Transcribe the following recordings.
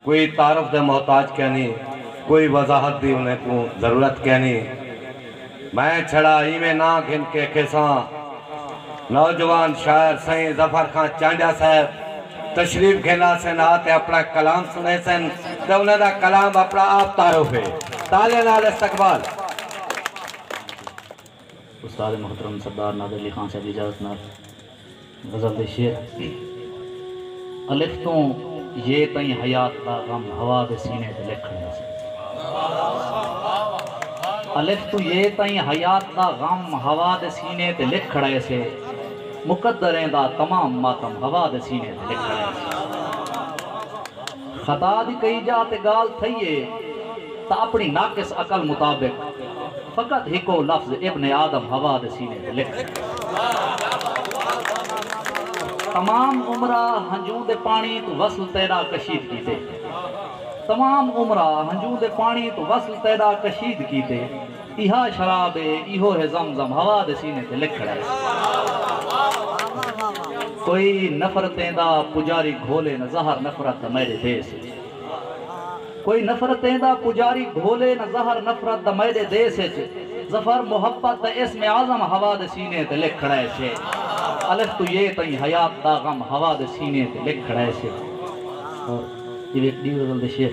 کوئی تعارف دے محتاج کینی، کوئی وضاحت دی انہیں کوں ضرورت کینی۔ میں چھڑا ایویں ناں گھن کے کھیساں۔ نوجوان شاعر سئیں ظفر خاں چانڈیا صاحب تشریف گھیلا سن ہا تے اپنا کلام سنے سن تے انہیں دا کلام اپنا آپ تعارف ہے۔ تالیاں نال استقبال۔ استاد محترم سردار نادر علی خان صاحب دی اجازت نال غزل دے شعر۔ الف توں ی تئیں حیات دا غم ہوا دے سینے تے لکھ کھڑیا سی۔ الف توں ی تئیں حیات دا غم ہوا دے سینے تے لکھ کھڑیا سی۔ مقدریں دا تمام ماتم ہوا دے سینے تے لکھ کھڑیا سی۔ خطا دی کئی جا تے گالھ تھئی ہے تاں اپنی ناقص عقل مطابق فقط ہکو لفظ ابن آدم حوا دے سینے تے لکھ ڈے۔ تمام عمرہ ہنجوں دے پانڑی توں وصل تیڈا کشید کیتے۔ تمام عمرہ ہنجوں دے پانڑی توں وصل تیڈا کشید کیتے۔ ایہا شراب اے ایہو ہے زم زم ہوا دے سینے تے لکھ کھڑا ہے کوئی نفرتیں دا پجاری گھولے نہ زہر نفرت دا میڈے دیس اچ کوئی نفرتیں دا پجاری گھولے نہ زہر نفرت دا میڈے دیس اچ ظفر محبت دا اسم اعظم ہوا دے سینے تے لکھ کھڑا ہے الف توں یے تئیں حیات دا غم ہوا دے سینے تے لکھ کھڑا ہے اور ایہ ویکھ ڈی غزل دے شعر۔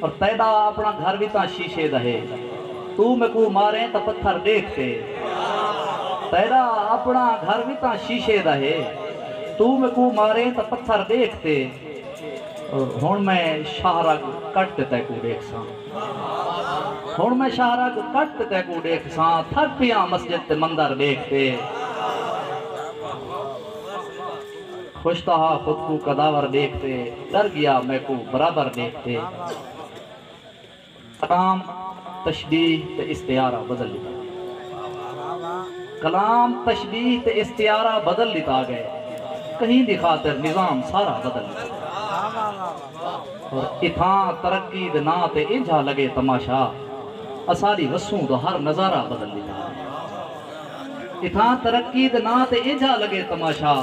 اور تیڈا اپنا گھر وی تاں شیشے دا ہے توں میکوں ماریں تاں پتھر ڈیکھ تے تیڈا اپنا گھر وی تاں شیشے دا ہے توں میکوں ماریں تاں پتھر ڈیکھ تے اور ہن میں شاہ رگ کٹ تے تیکوں ڈیکھ ساں ہن میں شاہ رگ کٹ تے تیکوں ڈیکھ ساں تھک پیاں مسجد تے مندر ڈیکھ تے۔ خوشتا ہا خود کوں قداور ڈیکھ تے ڈر گیا میکوں برابر ڈیکھ تے کلام تشبیہ تے استعارہ بدل ڈتا گئے کلام تشبیہ تے استعارہ بدل ڈتا گئے کہیں دی خاطر نظام سارا بدل ڈتا گئے اور اتھاں ترقی دے ناں تے انجھا لگے تماشا اساڈی وسوں دا ہر نظارہ بدل ڈتا گئے۔ اتھاں ترقی دے ناں تے اینجھا لگے تماشا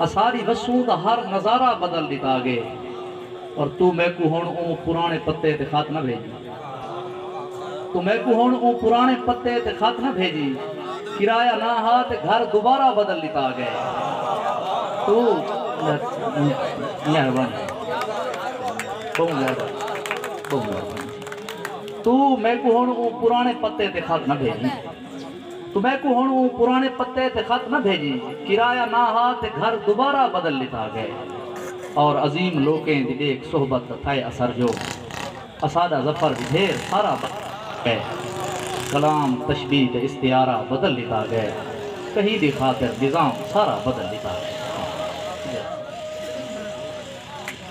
اساݙی وسوں دا ہر نظارہ بدل ݙتا گے پر توں میکوں ہݨ اوں پراݨے پتے تے خط نہ بھیڄی توں میکوں ہݨ اوں پراݨے پتے تے خط نہ بھیڄی کرایہ نہ ہا تے گھر دوبارہ بدل ݙتا گئے توں مہربانی بہوں زیادہ بہوں مہربانی۔ توں میکوں ہنڑ اوں پرانے پتے تے خط نہ بھیجیں توں میکوں ہنڑ اوں پرانے پتے تے خط نہ بھیجیں کرایہ نہ ہا تے گھر دوبارہ بدل ڈتا گئے اور عظیم لوکیں دی ڈیکھ صحبت دا تھئے اثر جو اساڈا ظفر وی ڈھیر سارا بدل ڈتا گئے کلام تشبیہ تے استعارہ بدل ڈتا گئے کہیں دی خاطر نظام سارا بدل ڈتا گئے۔